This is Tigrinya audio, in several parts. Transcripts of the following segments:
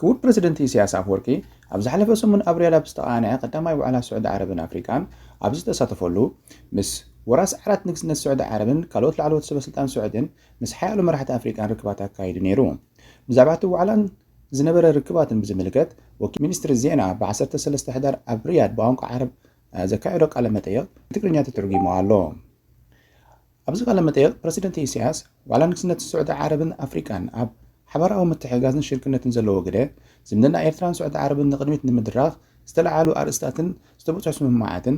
ክቡር ፕረዚደንት ኢሳያስ ኣፍወርቂ ኣብ ዝሓለፈ ሰሙን ኣብ ሪያድ ኣብ ዝተቓነዐ ቀዳማይ ዋዕላ ስዑዲ ዓረብን ኣፍሪቃን ኣብ ዝተሳተፈሉ፣ ምስ ወራሲ ዓራት ንግስነት ስዑዲ ዓረብን ካልኦት ላዕለዎት ሰበስልጣን ስዑዲን ምስ ሓያሎ መራሕቲ ኣፍሪቃን ርክባት ኣካይዱ ነይሩ። ብዛዕባ እቲ ዋዕላን ዝነበረ ርክባትን ብዝምልከት ወኪል ሚኒስትሪ ዜና ብ ዓሰርተ ሰለስተ ሕዳር ኣብ ሪያድ ብቋንቋ ዓረብ ዘካየዶ ቃለ መጠይቕ ብትግርኛ ተተርጒሙ ኣሎ። ኣብዚ ቃለ-መጠይቕ ፕረሲደንት ኢሳያስ፣ ዋላ ንግስነት ስዑዲ ዓረብን ኣፍሪቃን ኣብ ሓባራዊ ምትሕግጋዝን ሽርክነትን ዘለዎ ግደ፣ ዝምድና ኤርትራን ስዑዲ ዓረብን ንቕድሚት ንምድራኽ ዝተለዓሉ ኣርእስታትን ዝተበጽሑ ስምምዓትን፣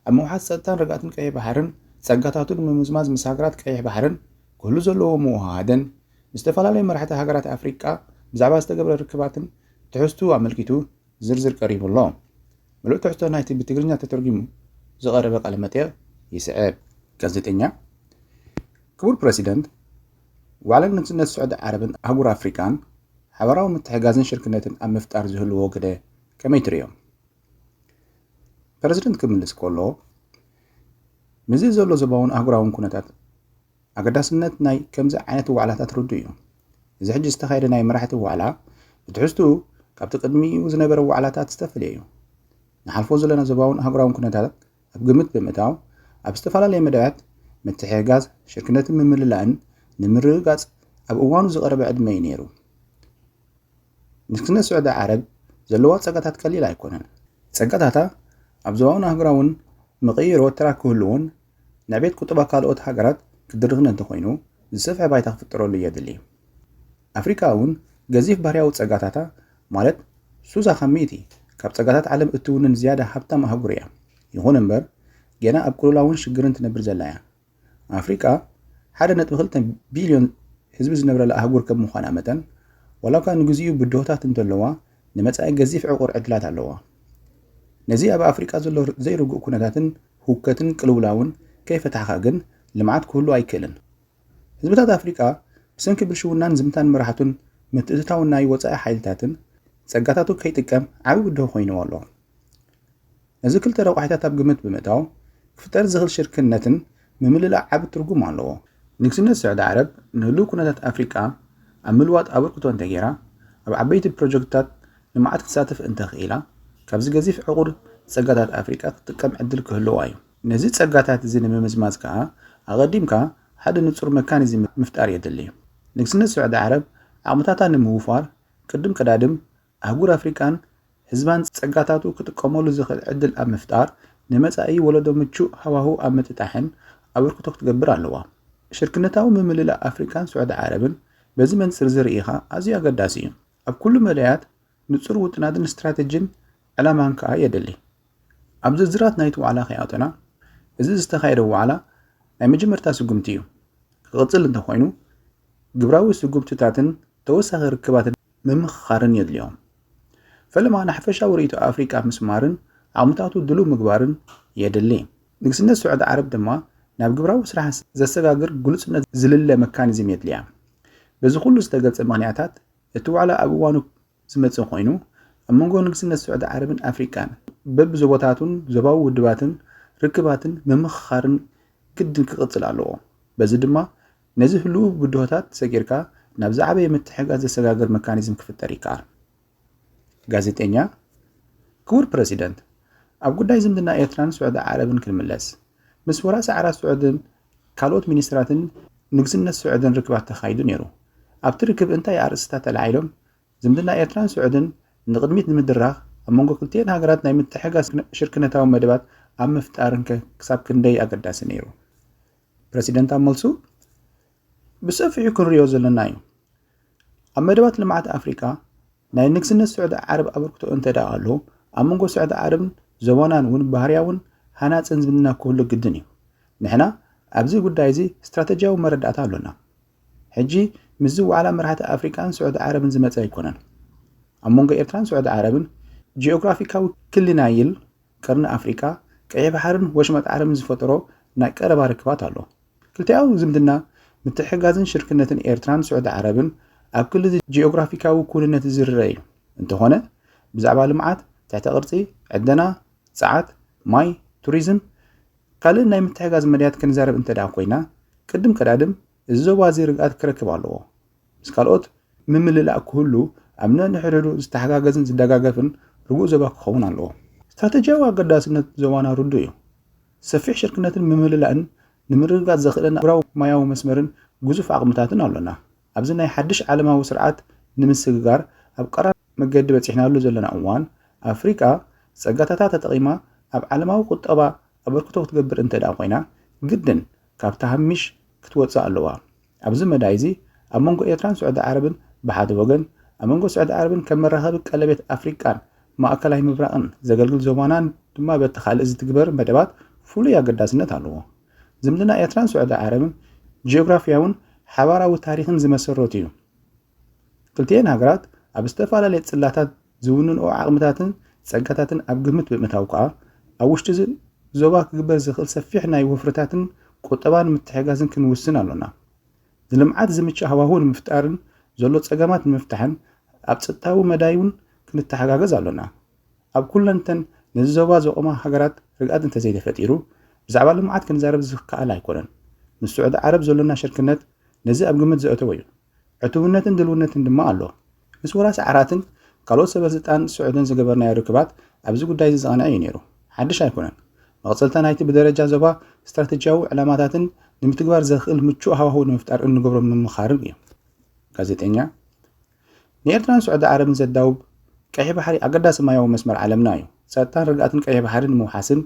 ኣብ ምውሓስ ጸጥታን ርግኣትን ቀይሕ ባሕርን ጸጋታቱ ንምምዝማዝ ምስ ሃገራት ቀይሕ ባሕርን ክህሉ ዘለዎ ምውህሃድን ምስ ዝተፈላለዩ መራሕቲ ሃገራት ኣፍሪቃ ብዛዕባ ዝተገብረ ርክባትን ትሕዝትኡ ኣመልኪቱ ዝርዝር ቀሪቡ ኣሎ። ምሉእ ትሕዝቶ ናይቲ ብትግርኛ ተተርጒሙ ዝቐረበ ቃለ መጠይቕ ይስዕብ። ጋዜጠኛ፣ ክቡር ፕረሲደንት፣ ዋዕላ ንግስነት ስዑዲ ዓረብን ኣህጉር ኣፍሪቃን ሓባራዊ ምትሕጋዝን ሽርክነትን ኣብ ምፍጣር ዝህልዎ ግደ ከመይ ትርእዮ? ፕረዚደንት ክምልስ ከሎ፣ ምስዚ ዘሎ ዞባውን ኣህጉራውን ኩነታት ኣገዳስነት ናይ ከምዚ ዓይነት ዋዕላታት ርዱእ እዩ። እዚ ሕጂ ዝተኻየደ ናይ መራሕቲ ዋዕላ ብትሕዝትኡ ካብቲ ቅድሚኡ ዝነበረ ዋዕላታት ዝተፈልየ እዩ። ንሓልፎ ዘለና ዞባውን ኣህጉራውን ኩነታት ኣብ ግምት ብምእታው ኣብ ዝተፈላለየ መዳያት ምትሕግጋዝ፣ ሽርክነትን ምምልላእን ንምርግጋጽ ኣብ እዋኑ ዝቐረበ ዕድመ እዩ ነይሩ። ንግስነት ስዑዲ ዓረብ ዘለዋ ጸጋታት ቀሊል ኣይኮነን። ጸጋታታ ኣብ ዞባውን ኣህጉራውን መቐይሮ ተራ ክህልዎን ናይ ቤት ቁጠባ ካልኦት ሃገራት ክድርኽን እንተኾይኑ ዝሰፍሐ ባይታ ክፍጠረሉ የድሊ። ኣፍሪካ እውን ገዚፍ ባህርያዊ ፀጋታታ ማለት ሱሳ ካብ ሚእቲ ካብ ፀጋታት ዓለም እትውንን ዝያዳ ሃብታም ኣህጉር እያ። ይኹን እምበር ጌና ኣብ ቅልውላውን ሽግርን ትነብር ዘላ እያ። ኣፍሪካ ሓደ ነጥቢ ክልተ ቢልዮን ህዝቢ ዝነብረላ ኣህጉር ከም ምዃና መጠን ዋላ እኳ ንግዚኡ ብድሆታት እንተለዋ ንመጻኢ ገዚፍ ዕቑር ዕድላት ኣለዋ። ነዚ ኣብ ኣፍሪቃ ዘሎ ዘይርጉእ ኩነታትን ሁከትን ቅልውላውን ከይፈታሕኻ ግን ልምዓት ክህሉ ኣይክእልን። ህዝብታት ኣፍሪቃ ብሰንኪ ብልሽውናን ዝምታን መራሕቱን ምትእትታው ናይ ወጻኢ ሓይልታትን ጸጋታቱ ከይጥቀም ዓቢ ብድሆ ኮይንዎ ኣሎ። ነዚ ክልተ ረቋሒታት ኣብ ግምት ብምእታው ክፍጠር ዝኽል ሽርክነትን ምምልላእ ዓቢ ትርጉም ኣለዎ። ንግስነት ስዕዲ ዓረብ ንህሉው ኩነታት ኣፍሪቃ ኣብ ምልዋጥ ኣበርክቶ እንተገይራ፣ ኣብ ዓበይቲ ፕሮጀክትታት ልምዓት ክትሳተፍ እንተኽኢላ፣ ካብዚ ገዚፍ ዕቑር ጸጋታት ኣፍሪቃ ክትጥቀም ዕድል ክህልዋ እዩ። ነዚ ጸጋታት እዚ ንምምዝማዝ ከኣ ኣቐዲምካ ሓደ ንጹር መካኒዝም ምፍጣር የድሊ። ንግስነት ስዑዲ ዓረብ ዓቕምታታ ንምውፋር ቅድም ቀዳድም ኣህጉር ኣፍሪቃን ህዝባን ጸጋታቱ ክጥቀመሉ ዝኽእል ዕድል ኣብ ምፍጣር፣ ንመጻኢ ወለዶ ምቹእ ሃዋህው ኣብ ምጥጣሕን ኣበርክቶ ክትገብር ኣለዋ። ሽርክነታዊ ምምልላእ ኣፍሪቃን ስዑዲ ዓረብን በዚ መንጽር'ዚ ርኢኻ ኣዝዩ ኣገዳሲ እዩ። ኣብ ኩሉ መዳያት ንጹር ውጥናትን ስትራተጂን ዕላማን ከኣ የድሊ። ኣብ ዝርዝራት ናይቲ ዋዕላ ከይኣቶና፣ እዚ ዝተኻየደ ዋዕላ ናይ መጀመርታ ስጉምቲ እዩ። ክቕጽል እንተኾይኑ፣ ግብራዊ ስጉምትታትን ተወሳኺ ርክባትን ምምኽኻርን የድልዮም። ፈለማ ንሓፈሻዊ ርእይቶ ኣፍሪቃ ምስማርን ዓቕምታቱ ድሉው ምግባርን የድሊ። ንግስነት ስዑዲ ዓረብ ድማ ናብ ግብራዊ ስራሕ ዘሰጋግር ግሉጽነት ዝልለ መካኒዝም የድልያ። በዚ ኩሉ ዝተገልጸ ምኽንያታት እቲ ዋዕላ ኣብ እዋኑ ዝመጽእ ኮይኑ፣ ኣብ መንጎ ንግስነት ስዑዲ ዓረብን ኣፍሪቃን በብዞባታቱን ዞባዊ ውድባትን ርክባትን ምምኽኻርን ግድን ክቕጽል ኣለዎ። በዚ ድማ ነዚ ህሉው ብድሆታት ሰጊርካ ናብ ዝዓበየ ምትሕግጋዝ ዘሰጋግር መካኒዝም ክፍጠር ይከኣል። ጋዜጠኛ፣ ክቡር ፕረሲደንት፣ ኣብ ጉዳይ ዝምድና ኤርትራን ስዑዲ ዓረብን ክንምለስ፣ ምስ ወራሲ ዓራት ስዑድን ካልኦት ሚኒስትራትን ንግስነት ስዑድን ርክባት ተኻይዱ ነይሩ። ኣብቲ ርክብ እንታይ ኣርእስትታት ተላዒሎም? ዝምድና ኤርትራን ስዑድን ንቕድሚት ንምድራኽ ኣብ መንጎ ክልቲኤን ሃገራት ናይ ምትሕግጋዝ ሽርክነታዊ መደባት ኣብ ምፍጣርንከ ክሳብ ክንደይ ኣገዳሲ ነይሩ? ፕረሲደንት ኣብ መልሱ፣ ብሰፊሑ ክንሪኦ ዘለና እዩ። ኣብ መደባት ልምዓት ኣፍሪቃ ናይ ንግስነት ስዑዲ ዓረብ ኣበርክቶ እንተደኣ ኣሎ፣ ኣብ መንጎ ስዑዲ ዓረብን ዞባናን እውን ባህርያውን ሃናጽን ዝምድና ክህሉ ግድን እዩ። ንሕና ኣብዚ ጉዳይ እዚ ስትራተጅያዊ መረዳእታ ኣሎና። ሕጂ ምስዚ ዋዕላ መራሕቲ ኣፍሪቃን ስዑዲ ዓረብን ዝመጸ ኣይኮነን። ኣብ መንጎ ኤርትራን ስዑዲ ዓረብን ጂኦግራፊካዊ ክሊ ናይል፣ ቀርኒ ኣፍሪቃ፣ ቀይሕ ባሕርን ወሽመጥ ዓረብን ዝፈጠሮ ናይ ቀረባ ርክባት ኣሎ። ክልቲኣዊ ዝምድና፣ ምትሕግጋዝን ሽርክነትን ኤርትራን ስዑዲ ዓረብን ኣብ ክሊ'ዚ ጂኦግራፊካዊ ክውንነት ዝርረ እዩ። እንተኾነ ብዛዕባ ልምዓት፣ ትሕተ ቅርጺ፣ ዕደና፣ ጸዓት፣ ማይ፣ ቱሪዝም፣ ካልእን ናይ ምትሕጋዝ መዳያት ክንዛረብ እንተድኣ ኮይና፣ ቅድም ቀዳድም እዚ ዞባ'ዚ ርግኣት ክረክብ ኣለዎ። ምስ ካልኦት ምምልላእ ክህሉ ኣብ ነንሕድሕዱ ዝተሓጋገዝን ዝደጋገፍን ርጉእ ዞባ ክኸውን ኣለዎ። ስትራተጂያዊ ኣገዳስነት ዞባና ርዱእ እዩ። ሰፊሕ ሽርክነትን ምምልላእን ንምርግጋጽ ዘኽእለና ኣህጉራዊ ማያዊ መስመርን ግዙፍ ዓቕምታትን ኣሎና። ኣብዚ ናይ ሓድሽ ዓለማዊ ስርዓት ንምስግጋር ኣብ ቀራን መገዲ በጺሕናሉ ዘሎና እዋን፣ ኣፍሪቃ ጸጋታታ ተጠቒማ ኣብ ዓለማዊ ቁጠባ ኣበርክቶ ክትገብር እንተድኣ ኮይና፣ ግድን ካብ ተሃሚሽ ክትወጽእ ኣለዋ። ኣብዚ መዳይዚ ኣብ መንጎ ኤርትራን ስዑዲ ዓረብን ብሓደ ወገን፣ ኣብ መንጎ ስዑዲ ዓረብን ከም መራኸቢ ቀለቤት ኣፍሪቃን ማእከላይ ምብራቕን ዘገልግል ዞባናን ድማ በቲ ካልእ ዝትግበር መደባት ፍሉይ ኣገዳስነት ኣለዎ። ዝምድና ኤርትራን ስዑዲ ዓረብን ጂኦግራፍያውን ሓባራዊ ታሪኽን ዝመሰረቱ'ዩ። ክልቲኤን ሃገራት ኣብ ዝተፈላለየ ጽላታት ዝውንንኦ ዓቕምታትን ጸጋታትን ኣብ ግምት ብምእታው ከኣ ኣብ ውሽጢ እዚ ዞባ ክግበር ዝኽእል ሰፊሕ ናይ ወፍርታትን ቁጠባን ምትሕጋዝን ክንውስን ኣሎና። ንልምዓት ዝምችእ ሃዋሁ ንምፍጣርን ዘሎ ጸገማት ንምፍታሕን ኣብ ጸጥታዊ መዳይውን ክንተሓጋገዝ ኣሎና። ኣብ ኩለንተን ነዚ ዞባ ዘቖማ ሃገራት ርግኣት እንተዘይተፈጢሩ ብዛዕባ ልምዓት ክንዛረብ ዝከኣል ኣይኮነን። ምስ ስዑዲ ዓረብ ዘሎና ሽርክነት ነዚ ኣብ ግምት ዘእተወ እዩ። ዕቱብነትን ድልውነትን ድማ ኣሎ። ምስ ወራሲ ዓራትን ካልኦት ሰበስልጣን ስዑድን ዝገበርናዮ ርክባት ኣብዚ ጉዳይ እዚ ዝቐንዐ እዩ ነይሩ፣ ሓድሽ ኣይኮነን። መቕጸልታ ናይቲ ብደረጃ ዞባ ስትራተጂያዊ ዕላማታትን ንምትግባር ዘኽእል ምቹእ ሃዋህው ንምፍጣር እንገብሮ ምምኻርን እዩ። ጋዜጠኛ፣ ንኤርትራን ስዑዲ ዓረብን ዘዳውብ ቀይሕ ባሕሪ ኣገዳሲ ማያዊ መስመር ዓለምና እዩ። ጸጥታን ርግኣትን ቀይሕ ባሕሪ ንምውሓስን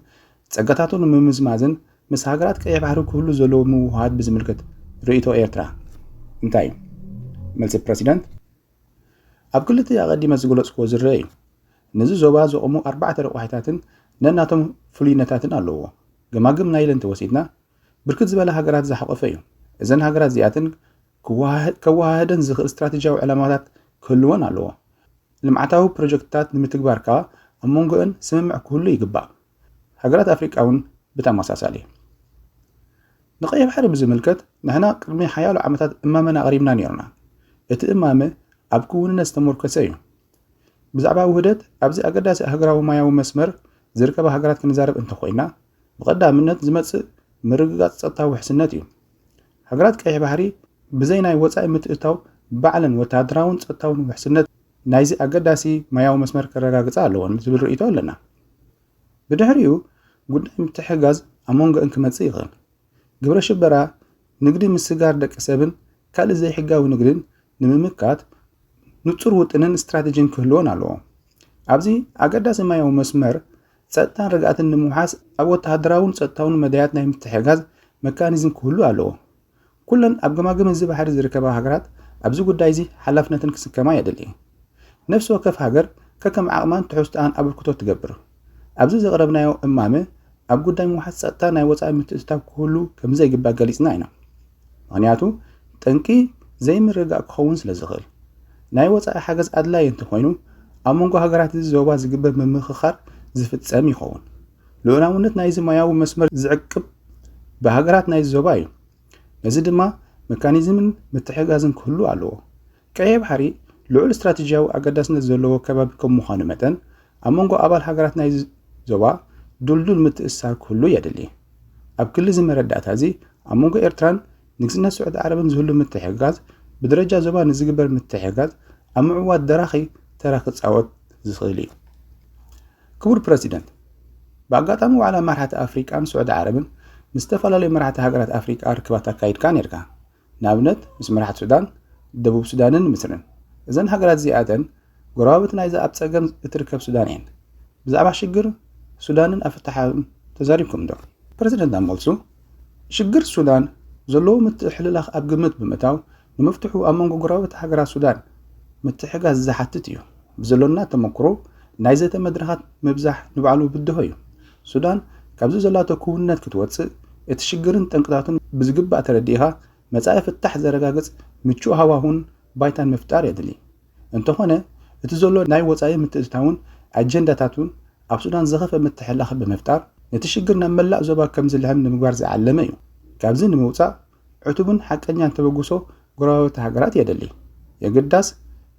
ጸጋታቱ ንምምዝማዝን ምስ ሃገራት ቀይሕ ባሕሪ ክህሉ ዘለዎ ምውህሃድ ብዝምልከት ርእይቶ ኤርትራ እንታይ እዩ? መልሲ ፕረሲደንት፣ ኣብ ክሊ'ቲ ኣቐዲመ ዝገለጽኩዎ ዝርኣ እዩ። ነዚ ዞባ ዘቑሙ ኣርባዕተ ረቋሒታትን ነናቶም ፍሉይነታትን ኣለዉዎ። ገማግም ናይል እንተወሲድና፣ ብርክት ዝበላ ሃገራት ዝሓቖፈ እዩ። እዘን ሃገራት እዚኣተን ከወሃህደን ዝኽእል ስትራተጂያዊ ዕላማታት ክህልወን ኣለዎ። ልምዓታዊ ፕሮጀክትታት ንምትግባር ከኣ ኣብ መንጎ'ን ስምምዕ ክህሉ ይግባእ። ሃገራት ኣፍሪቃ እውን ብተመሳሳሊ። ንቀይሕ ባሕሪ ብዝምልከት ንሕና ቅድሚ ሓያሎ ዓመታት እማመና ኣቕሪብና ነይርና። እቲ እማመ ኣብ ክውንነት ዝተሞርከሰ እዩ። ብዛዕባ ውህደት ኣብዚ ኣገዳሲ ኣህግራዊ ማያዊ መስመር ዝርከባ ሃገራት ክንዛረብ እንተኾይና ብቐዳምነት ዝመጽእ ምርግጋጽ ጸጥታዊ ውሕስነት እዩ። ሃገራት ቀይሕ ባሕሪ ብዘይ ናይ ወጻኢ ምትእታው ባዕለን ወተሃደራውን ጸጥታውን ውሕስነት ናይዚ ኣገዳሲ ማያዊ መስመር ከረጋግጻ ኣለወን ዝብል ርእይቶ ኣለና። ብድሕሪኡ ጉዳይ ምትሕጋዝ ኣብ መንጎእን ክመጽእ ይኽእል። ግብረ ሽበራ ንግዲ ምስጋር ደቂ ሰብን ካልእ ዘይሕጋዊ ንግድን ንምምካት ንጹር ውጥንን ስትራቴጂን ክህልዎን ኣለዎ። ኣብዚ ኣገዳሲ ማያዊ መስመር ጸጥታን ርግኣትን ንምውሓስ ኣብ ወተሃደራውን ጸጥታውን መዳያት ናይ ምትሕጋዝ መካኒዝም ክህሉ ኣለዎ። ኩለን ኣብ ገማግም እዚ ባሕሪ ዝርከባ ሃገራት ኣብዚ ጉዳይ እዚ ሓላፍነትን ክስከማ የድሊ። ነፍሲ ወከፍ ሃገር ከከም ዓቕማን ትሕዝቶኣን ኣበርክቶ ትገብር። ኣብዚ ዘቕረብናዮ እማመ ኣብ ጉዳይ ምውሓስ ጸጥታ ናይ ወጻኢ ምትእትታው ክህሉ ከምዘይግባእ ገሊጽና ኢና። ምክንያቱ ጠንቂ ዘይምርግጋእ ክኸውን ስለ ዝኽእል። ናይ ወጻኢ ሓገዝ ኣድላዪ እንተኾይኑ ኣብ መንጎ ሃገራት እዚ ዞባ ዝግበር ምምኽኻር ዝፍጸም ይኸውን። ልኡላውነት ናይዚ ማያዊ መስመር ዝዕቅብ ብሃገራት ናይዚ ዞባ እዩ። ነዚ ድማ መካኒዝምን ምትሕግጋዝን ክህሉ ኣለዎ። ቀይሕ ባሕሪ ልዑል ስትራቴጂያዊ ኣገዳስነት ዘለዎ ከባቢ ከም ምዃኑ መጠን፣ ኣብ መንጎ ኣባል ሃገራት ናይዚ ዞባ ድልዱል ምትእስሳር ክህሉ የድሊ። ኣብ ክሊ እዚ መረዳእታ እዚ፣ ኣብ መንጎ ኤርትራን ንግስነት ስዑዲ ዓረብን ዝህሉ ምትሕግጋዝ፣ ብደረጃ ዞባ ንዝግበር ምትሕግጋዝ ኣብ ምዕዋት ደራኺ ተራ ክጻወት ዝኽእል እዩ። ክቡር ፕረሲደንት፣ ብኣጋጣሚ ዋዕላ መራሕቲ ኣፍሪቃን ስዑዲ ዓረብን ምስ ዝተፈላለዩ መራሕቲ ሃገራት ኣፍሪቃ ርክባት ኣካይድካ ኔርካ። ንኣብነት ምስ መራሕቲ ሱዳን፣ ደቡብ ሱዳንን ምስርን። እዘን ሃገራት እዚኣተን ጎረባብቲ ናይዛ ኣብ ጸገም እትርከብ ሱዳን እየን። ብዛዕባ ሽግር ሱዳንን ኣፈታሕታኡን ተዛሪብኩም'ዶ? ፕረሲደንት ኣብ መልሱ፣ ሽግር ሱዳን ዘለዎ ምትሕልላኽ ኣብ ግምት ብምእታው ንምፍትሑ ኣብ መንጎ ጎረባብቲ ሃገራት ሱዳን ምትሕግጋዝ ዝሓትት እዩ። ብዘሎና ተመኩሮ ናይ ዘተ መድረኻት ምብዛሕ ንባዕሉ ብድሆ እዩ። ሱዳን ካብዚ ዘላቶ ክውንነት ክትወጽእ፣ እቲ ሽግርን ጠንቅታቱን ብዝግባእ ተረዲእኻ መጻኢ ፍታሕ ዘረጋግጽ ምቹእ ሃዋሁን ባይታን ምፍጣር የድሊ። እንተኾነ እቲ ዘሎ ናይ ወጻኢ ምትእትታውን ኣጀንዳታቱን ኣብ ሱዳን ዝኸፍእ ምትሕልላኽ ብምፍጣር ነቲ ሽግር ናብ መላእ ዞባ ከምዝልሕም ንምግባር ዝዓለመ እዩ። ካብዚ ንምውጻእ ዕቱብን ሓቀኛን ተበግሶ ጎረባብቲ ሃገራት የድሊ። የግዳስ፣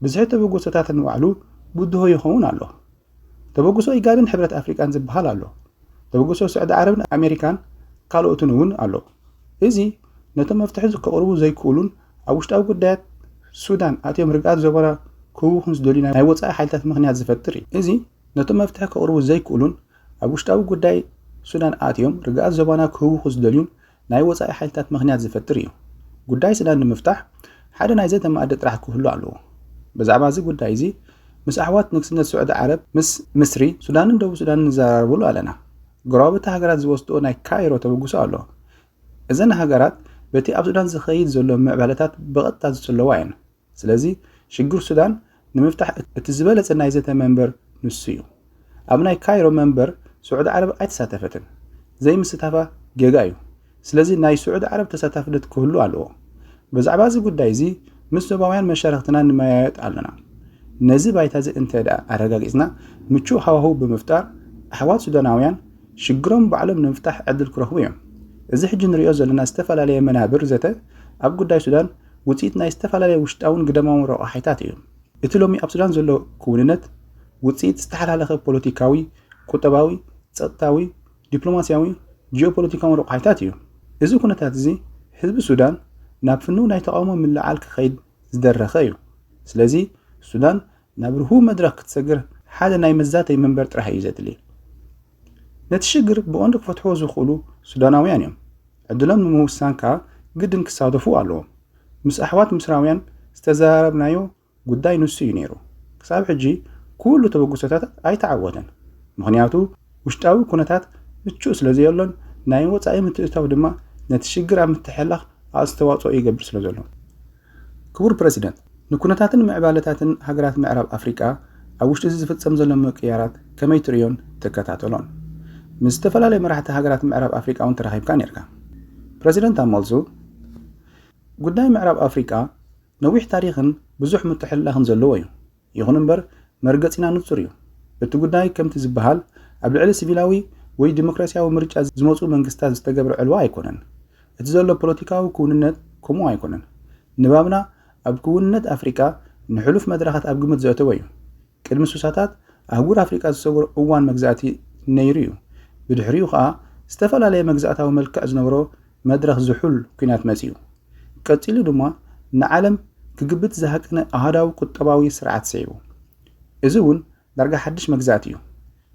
ብዝሒ ተበግሶታት ንባዕሉ ብድሆ ይኸውን ኣሎ። ተበግሶ ኢጋድን ሕብረት ኣፍሪቃን ዝበሃል ኣሎ። ተበግሶ ስዕዲ ዓረብን ኣሜሪካን ካልኦትን እውን ኣሎ። እዚ ነቶም መፍትሒ ከቕርቡ ዘይክእሉን ኣብ ውሽጣዊ ጉዳያት ሱዳን ኣትዮም ርግኣት ዞባና ክህውኹን ዝደልዩ ናይ ወጻኢ ሓይልታት ምኽንያት ዝፈጥር እዩ። እዚ ነቶም መፍትሒ ከቕርቡ ዘይክእሉን ኣብ ውሽጣዊ ጉዳይ ሱዳን ኣትዮም ርግኣት ዞባና ክህውኹ ዝደልዩን ናይ ወጻኢ ሓይልታት ምኽንያት ዝፈጥር እዩ። ጉዳይ ሱዳን ንምፍታሕ ሓደ ናይ ዘተ መኣዲ ጥራሕ ክህሉ ኣለዎ። ብዛዕባ እዚ ጉዳይ እዚ ምስ ኣሕዋት ንግስነት ሱዕዲ ዓረብ፣ ምስ ምስሪ፣ ሱዳንን ደቡብ ሱዳንን ንዘራረቡሉ ኣለና። ጎረባብቲ ሃገራት ዝወስድኦ ናይ ካይሮ ተበግሶ ኣሎ። እዘን ሃገራት በቲ ኣብ ሱዳን ዝኸይድ ዘሎ ምዕባለታት ብቐጥታ ዝጽለዋ እየን። ስለዚ ሽግር ሱዳን ንምፍታሕ እቲ ዝበለጸ ናይ ዘተ መንበር ንሱ እዩ። ኣብ ናይ ካይሮ መንበር ስዑዲ ዓረብ ኣይተሳተፈትን። ዘይምስታፋ ጌጋ እዩ። ስለዚ ናይ ስዑዲ ዓረብ ተሳታፍነት ክህሉ ኣለዎ። ብዛዕባ እዚ ጉዳይ እዚ ምስ ዞባውያን መሻርኽትና ንመያየጥ ኣለና። ነዚ ባይታ እዚ እንተ ኣረጋጊጽና ምቹእ ሃዋህው ብምፍጣር ኣሕዋት ሱዳናውያን ሽግሮም ባዕሎም ንምፍታሕ ዕድል ክረኽቡ እዮም። እዚ ሕጂ ንርእዮ ዘለና ዝተፈላለየ መናብር ዘተ ኣብ ጉዳይ ሱዳን ውጽኢት ናይ ዝተፈላለየ ውሽጣውን ግደማውን ረቋሒታት እዩ። እቲ ሎሚ ኣብ ሱዳን ዘሎ ክውንነት ውጽኢት ዝተሓላለኸ ፖለቲካዊ፣ ቁጠባዊ፣ ጸጥታዊ፣ ዲፕሎማስያዊ፣ ጂኦፖለቲካውን ረቋሒታት እዩ። እዚ ኩነታት እዚ ህዝቢ ሱዳን ናብ ፍኑው ናይ ተቓውሞ ምልዕዓል ክኸይድ ዝደረኸ እዩ። ስለዚ ሱዳን ናብ ርሁው መድረኽ ክትሰግር ሓደ ናይ መዛተይ መንበር ጥራሕ እዩ ዘድሊ። ነቲ ሽግር ብቐንዱ ክፈትሕዎ ዝኽእሉ ሱዳናውያን እዮም። ዕድሎም ንምውሳን ከኣ ግድን ክሳተፉ ኣለዎም። ምስ ኣሕዋት ምስራውያን ዝተዘራረብናዮ ጉዳይ ንሱ እዩ ነይሩ። ክሳብ ሕጂ ኩሉ ተበግሶታት ኣይተዓወተን። ምኽንያቱ ውሽጣዊ ኩነታት ምቹእ ስለዘየሎን ናይ ወጻኢ ምትእትታው ድማ ነቲ ሽግር ኣብ ምትሕልላኽ ኣስተዋጽኦ ይገብር ስለዘሎ። ክቡር ፕረዚደንት፣ ንኩነታትን ምዕባለታትን ሃገራት ምዕራብ ኣፍሪቃ ኣብ ውሽጢ እዚ ዝፍጸም ዘሎ ምቅይያራት ከመይ ትርእዮን ትከታተሎን? ምስ ዝተፈላለዩ መራሕቲ ሃገራት ምዕራብ ኣፍሪቃ'ውን ተራኺብካ ኔርካ። ፕረዚደንት ኣብ መልሱ፣ ጉዳይ ምዕራብ ኣፍሪቃ ነዊሕ ታሪኽን ብዙሕ ምትሕልላኽን ዘለዎ'ዩ። ይኹን እምበር መርገጺና ንጹር እዩ። እቲ ጉዳይ ከምቲ ዝበሃል ኣብ ልዕሊ ሲቪላዊ ወይ ዲሞክራሲያዊ ምርጫ ዝመጹ መንግስታት ዝተገብረ ዕልዋ ኣይኮነን። እቲ ዘሎ ፖለቲካዊ ክውንነት ከምኡ ኣይኮነን። ንባብና ኣብ ክውንነት ኣፍሪቃ ንሕሉፍ መድረኻት ኣብ ግምት ዘእተወ እዩ። ቅድሚ ስሳታት ኣህጉር ኣፍሪቃ ዝሰገሮ እዋን መግዛእቲ ነይሩ እዩ። ብድሕሪኡ ከኣ ዝተፈላለየ መግዛእታዊ መልክዕ ዝነበሮ መድረኽ ዝሑል ኲናት መጺኡ። ቀጺሉ ድማ ንዓለም ክግብት ዝሃቀነ ኣሃዳዊ ቁጠባዊ ስርዓት ስዒቡ። እዚ እውን ዳርጋ ሓድሽ መግዛእቲ እዩ።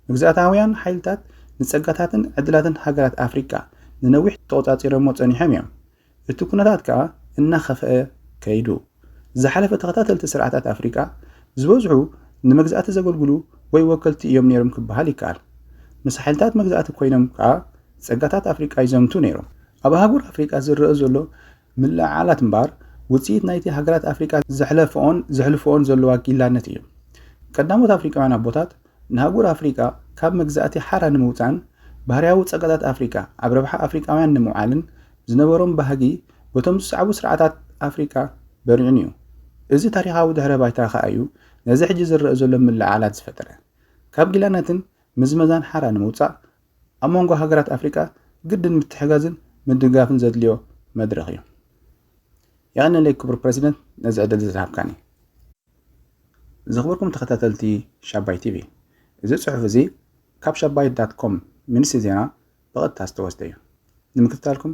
መግዛእታውያን ሓይልታት ንጸጋታትን ዕድላትን ሃገራት ኣፍሪቃ ንነዊሕ ተቖጻጺሮሞ ጸኒሖም እዮም። እቲ ኩነታት ከኣ እናኸፍኣ ከይዱ። ዝሓለፈ ተኸታተልቲ ስርዓታት ኣፍሪቃ ዝበዝሑ ንመግዛእቲ ዘገልግሉ ወይ ወከልቲ እዮም ነይሮም ክበሃል ይከኣል። ምስ ሓይልታት መግዛእቲ ኮይኖም ከኣ ጸጋታት ኣፍሪቃ ይዘምቱ ነይሮም። ኣብ ኣህጉር ኣፍሪቃ ዝረኣ ዘሎ ምልዕዓላት እምበኣር ውጽኢት ናይቲ ሃገራት ኣፍሪቃ ዘሕለፈኦን ዘሕልፈኦን ዘለዋ ጊላነት እዩ። ቀዳሞት ኣፍሪቃውያን ኣቦታት ንኣህጉር ኣፍሪቃ ካብ መግዛእቲ ሓራ ንምውጻእን ባህርያዊ ጸጋታት ኣፍሪቃ ኣብ ረብሓ ኣፍሪቃውያን ንምውዓልን ዝነበሮም ባህጊ በቶም ዝሰዕቡ ስርዓታት ኣፍሪቃ በሪዑን እዩ። እዚ ታሪኻዊ ድሕረ ባይታ ከኣ እዩ ነዚ ሕጂ ዝረኣ ዘሎ ምልዕዓላት ዝፈጠረ። ካብ ጊላነትን ምዝመዛን ሓራ ንምውጻእ ኣብ መንጎ ሃገራት ኣፍሪቃ ግድን ምትሕጋዝን ምድጋፍን ዘድልዮ መድረኽ እዩ። የቐንየለይ ክቡር ፕረሲደንት ነዚ ዕድል እዚ ዝሃብካኒ። ዝኽብርኩም ተኸታተልቲ ሻባይ ቲቪ እዚ ጽሑፍ እዚ ካብ ሻባይ ዳት ኮም ሚኒስትሪ ዜና ብቐጥታ ዝተወስደ እዩ። ንምክትታልኩም